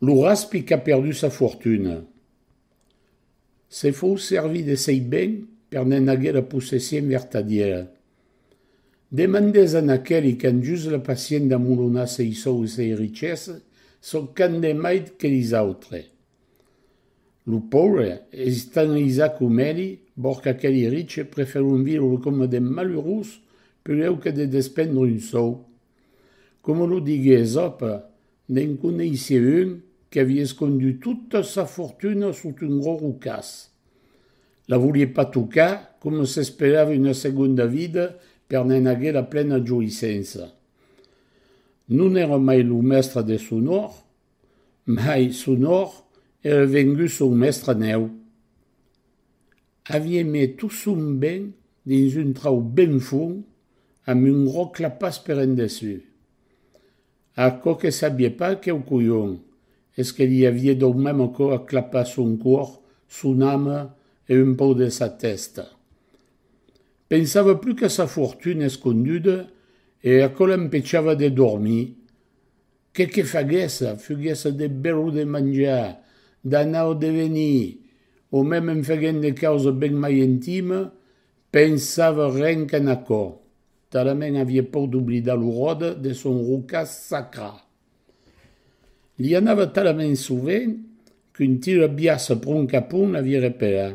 Lo raspi qu'a perdut sa fortuna. Se fou servir de sei ben per n'en aguer la possession vertadièra. Demandètz a n'aqueli qu'an just la passion d'amulonar sei sòu e sei richessa çò qu'an de maid que lis autres. Lo paure es estanhlisat com eli, bor qu'aqueli riche preferon viure coma de malurós peleu que de despendre un sòu. Coma lo digué Esope, Ne'n coneissie un qu'avie escondut tota sa fortuna sota un gros rocàs. La volie pas tocar, coma s'esperava una segonda vida per ne'n aguer la plena joïssença. Non èra mai lo mèstre de son òr, mai son òr èra vengut son mèstre nèu. Avie mes tot son ben dins un trau ben fond, amb un gros clapàs per en dessus. Aquò que sabie pas queu colhon es que li avie dau mem aquò a clapar son còr, son ame e un pau de sa tèsta. Pensava plus qu'a sa fortuna esconduda e aquò l'empechava de dormir. Qué que faguèsse, fuguèsse de bèr o de manjar, d'anar o de venir, o mem en faguent de causa ben mai intima, pensava ren qu'en aquò. Talament avie por d'oblidar lo ròde de son roca sacra. Li anava talament sovent qu'un tira biaça pron capon avie repelà.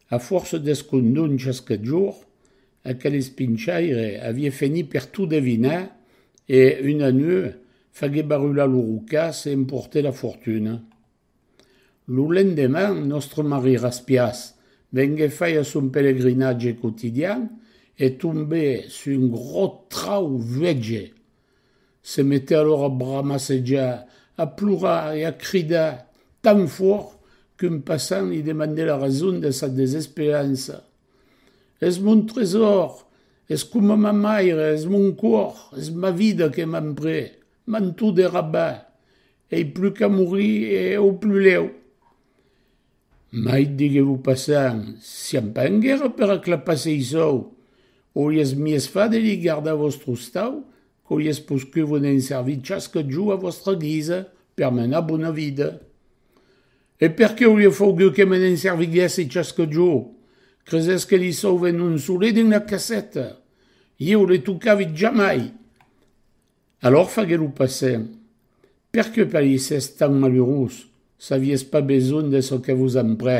A fòrça d'escondon chasque jorn, aquel espinchaire avie fenit per tot devinar e, una nuèu, fagué barular lo roca se emporter la fortuna. Lo lendeman, nòstre Marie Raspias venguèt fàir son pelegrinatge quotidian e tombè sus un grò trau vuege. Se metè alora a bramassejar, a plorar e a cridar tan fòrt qu'un passant li demandè la rason de sa desesperança. Es mon tresòr! Es coma ma maire! Es mon còr! Es ma vida que m'an pres! Manto de Rabat, ei plus qu'a morir e au plus lèu. Mai digué lo passant, siam pas en guèrra per aclapar sei sòu, auriás mies fat de li gardar vòstre ostau qu'auriás poscut vos n'en servir chasque jo a vòstra guisa per menar bona vida. E perqué auria faugut que me n'en serviguèsse chasque jo? Cresètz que li sauve non solet dins la caseta? Ieu le tocavit jamai! Alòr faguè lo passer. Per que parissies tan malurós, s'avies pas besonh de çò que vos emprè.